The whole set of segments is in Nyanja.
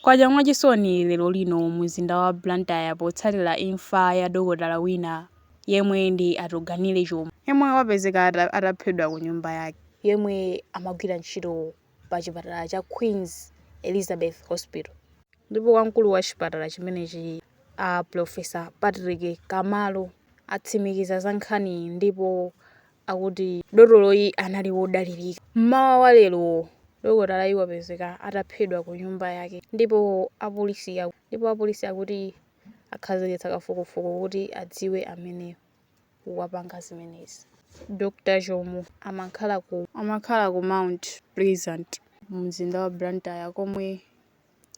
Kwacha mwachisoni lero lino mu mzinda wa Blantyre potsatira imfa ya dokotala wina yemwe ndi Atuganile Chomo, yemwe wapezeka ataphedwa ku nyumba yake, yemwe amagwira ntchito pa chipatala cha Queens Elizabeth Hospital, ndipo wamkulu wa chipatala chimenechi a Pulofesa Patrick Kamalo atsimikiza za nkhaniyi ndipo akuti dotoloyi anali wodalirika. M'mawa wa lero dokotalayu wapezeka ataphedwa ku nyumba yake ndipo apolisi ndipo apolisi akuti akhazikitsa kafukufuku kuti adziwe amene wapanga zimenezi. Dr Chomo amakhala ku amakhala ku Mount Pleasant mu mzinda wa Blantyre komwe.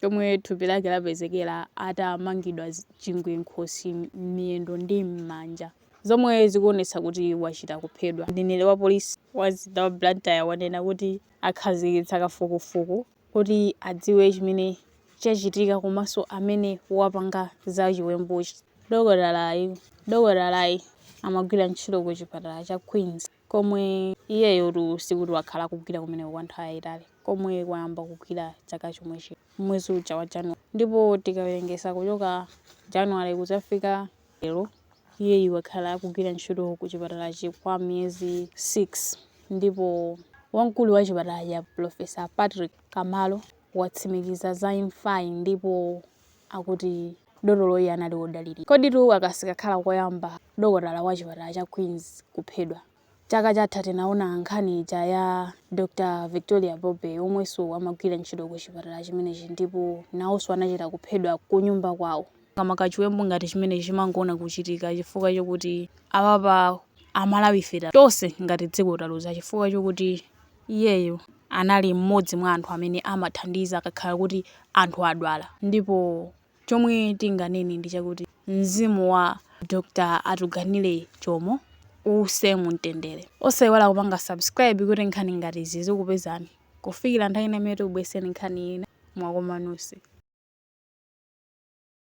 komwe thupi lake lapezekera atamangidwa chingwe m'khosi, m'miyendo ndi m'manja, zomwe zikuonetsa kuti wachita kuphedwa. Mneneri wa polisi wa mzinda wa Blantyre wanena kuti akhazikitsa kafukufuku kuti adziwe chimene chachitika komanso amene wapanga za chiwembuchi. Dokotalayu, Dokotalayi amagwira ntchito ku chipatala cha Queens. komwe iyeyotu sikuti wakhala akugwira kumeneko kwa nthawi yayitali komwe wayamba kugwira chaka chomwe chino mmwezi wa January ndipo tikawerengesa kuchoka January kuzafika lero iyeyu wakhala akugwira ntchito ku chipatalachi kwa miyezi 6 ndipo wamkulu wa chipatalachi a Pulofesa Patrick Kamalo watsimikiza za imfayi ndipo akuti. Dotoloyi anali wodalirika. Koditu aka sikakhala koyamba dokotala wa chipatala cha Queens kuphedwa. Chaka chatha tinaona nkhani ija ya Dr Victoria Bobe omwenso amagwira ntchito ku chipatala chimenechi ndipo nawonso anachita kuphedwa kunyumba kwawo. Makamaka chiwembu ngati chimenechi timangoona kuchitika chifukwa chokuti apapa amalawife tose ngati dziko taluza chifukwa chokuti Iyeyu anali mmodzi mwa anthu amene amathandiza akakhala kuti anthu adwala ndipo chomwe tinganene ndi chakuti mzimu wa Dr Atuganile Chomo uuse mu mtendere. Osaiwala kupanga subscribe kuti nkhani ngati izi zizikupezani kufikira nthawi ina imene tikubweretsereni nkhani ina mwakoma nonse.